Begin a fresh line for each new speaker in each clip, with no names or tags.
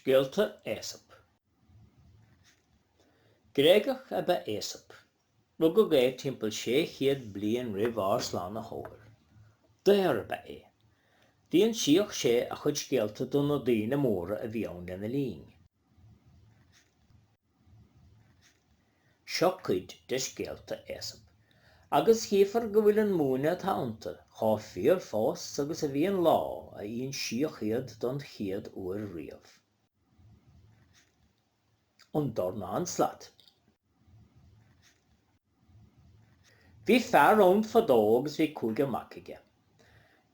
Scéalta Aesop. Gréagach ab ea Aesop. Rugadh é timpeall 600 bliain roimh ár Slánaitheoir. Daor ab ea é. D'insíodh sé a chuid scéalta do na daoine móra a bhí ann lena linn. Seo cuid de scéalta Aesop, agus chífir go bhfuil an múineadh atá iontu chomh fíor fós agus a bhí an lá a insíodh iad don chéad uair riamh. An Dornán Slat. Bhí fear ann fadó agus bhí cúigear mac aige.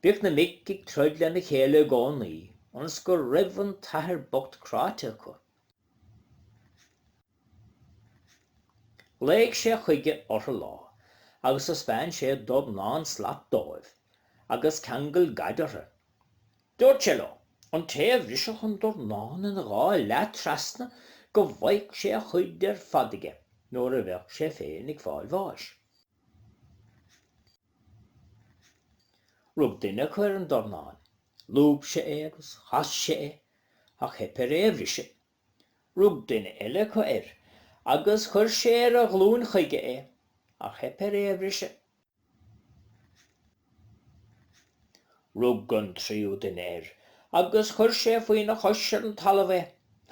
Bhíodh na mic ag troid lena chéile i gcónaí, ionas go raibh an t-athair bocht cráite acu Ghlaoigh sé chuige orthu lá agus thaispeáin sé dornán slat dóibh agus ceangal gad orthu. Dúirt sé leo, an té a bhrisfeadh an dornán ina dhá leath trasna go bhfaigheadh sé a chuid ar fad aige nuair a bheadh sé féin ag fáil bháis. Rug duine acu ar an dornán Lúb sé é agus chas sé é, ach theip air é a bhriseadh. Rug duine eile acu air agus chuir sé ar a ghlúin chuige é, ach theip air é a bhriseadh. Rug an tríú duine air agus chuir sé faoina chois ar an talamh é,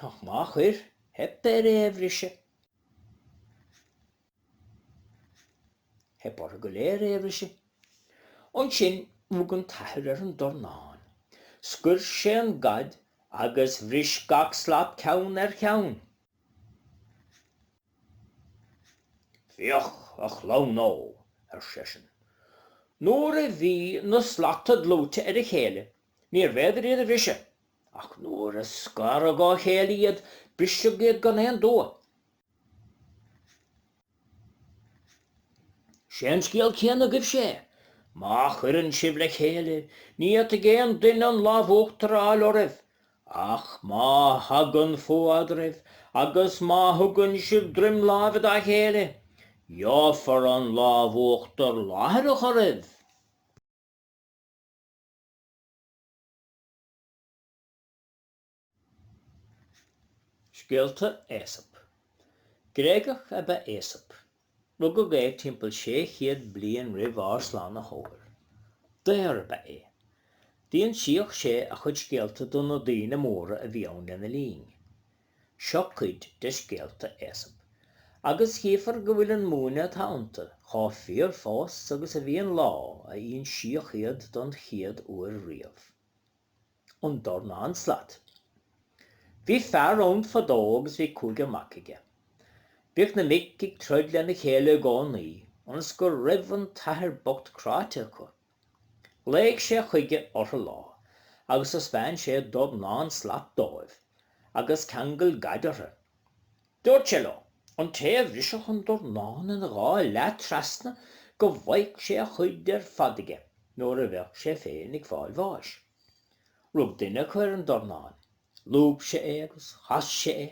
ach má chuir, theip air é a bhriseadh. Theip orthu go léir é a bhriseadh. Ansin rug an t-athair ar an dornán. Scoir sé an gad agus bhris gach slat ceann ar cheann. Féach, a chlann ó! ar seisean. Nuair a bhí na slata dlúite ar a chéile, níorbh fhéidir iad a bhriseadh, ach nuair a scaradh ó chéile iad, briseadh iad gan aon dua. Is é an scéal céanna agaibhse é. Má chuireann sibh le chéile, ní fhéadfaidh aon duine an lámh uachtair a fháil oraibh. Ach má thagann fuath eadraibh agus má thugann sibh droim láimhe dá chéile, gheofar an lámh uachtair láithreach oraibh. Scéalta Aesop. Gréagach ab ea Aesop. Rugadh é timpeall sé chéad bliain roimh ár Slánaitheoir. Daor ab ea é. D'insíodh sé a chuid scéalta do na daoine móra a bhí ann lena linn. Seo cuid de scéalta Aesop, agus chífear go bhfuil an múineadh atá iontu chomh fíor fós agus a bhí an lá a insíodh iad don chéad uair riamh. an dornán slat. Bhí fear ann fadó agus bhí cúigear mac aige. Bhíodh na mic ag troid lena chéile i gcónaí, ionas go raibh an t-athair bocht cráite acu. Ghlaoigh sé chuige orthu lá agus thaispeáin sé dornán slat dóibh, agus cheangail gad orthu. Dúirt sé leo, an té a bhrisfeadh an dornán ina dhá leath trasna, go bhfágfadh sé a chuid ar fad aige nuair a bheadh sé féin ag fáil bháis. Rug duine acu ar an dornán. Lúb sé é agus chas sé é,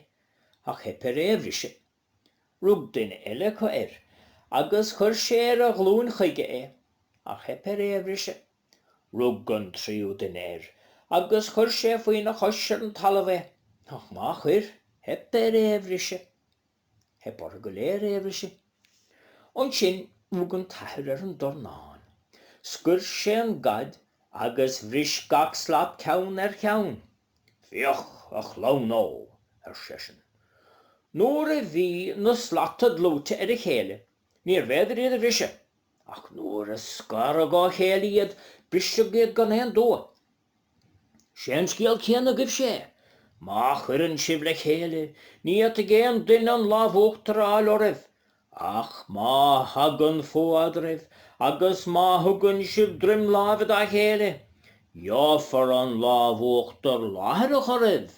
ach theip air é a bhriseadh. Rug duine eile acu air agus chuir sé ar a ghlúin chuige é, ach theip air é a bhriseadh. Rug an tríú duine air agus chuir sé faoina chois ar an talamh é, ach má chuir, theip air é a bhriseadh. Theip orthu go léir é a bhriseadh. Ansin rug an t-athair ar an dornán. Scoir sé an gad agus bhris gach slat ceann ar cheann. Féach, a chlann ó! ar seisean. Nuair a bhí na slata dlúite ar a chéile, níorbh fhéidir iad a bhriseadh. Ach nuair a scaradh dá chéile iad, briseadh iad gan aon dua. Sé an scéal céanna agaibhse é. Má chuireann sibh le chéile, ní fhéadfaidh aon duine an lámh uachtair a fháil oraibh. Ach má thagann fuath eadraibh, agus má thugann sibh droim láimhe dá chéile, gheofar an lámh uachtair láithreach oraibh.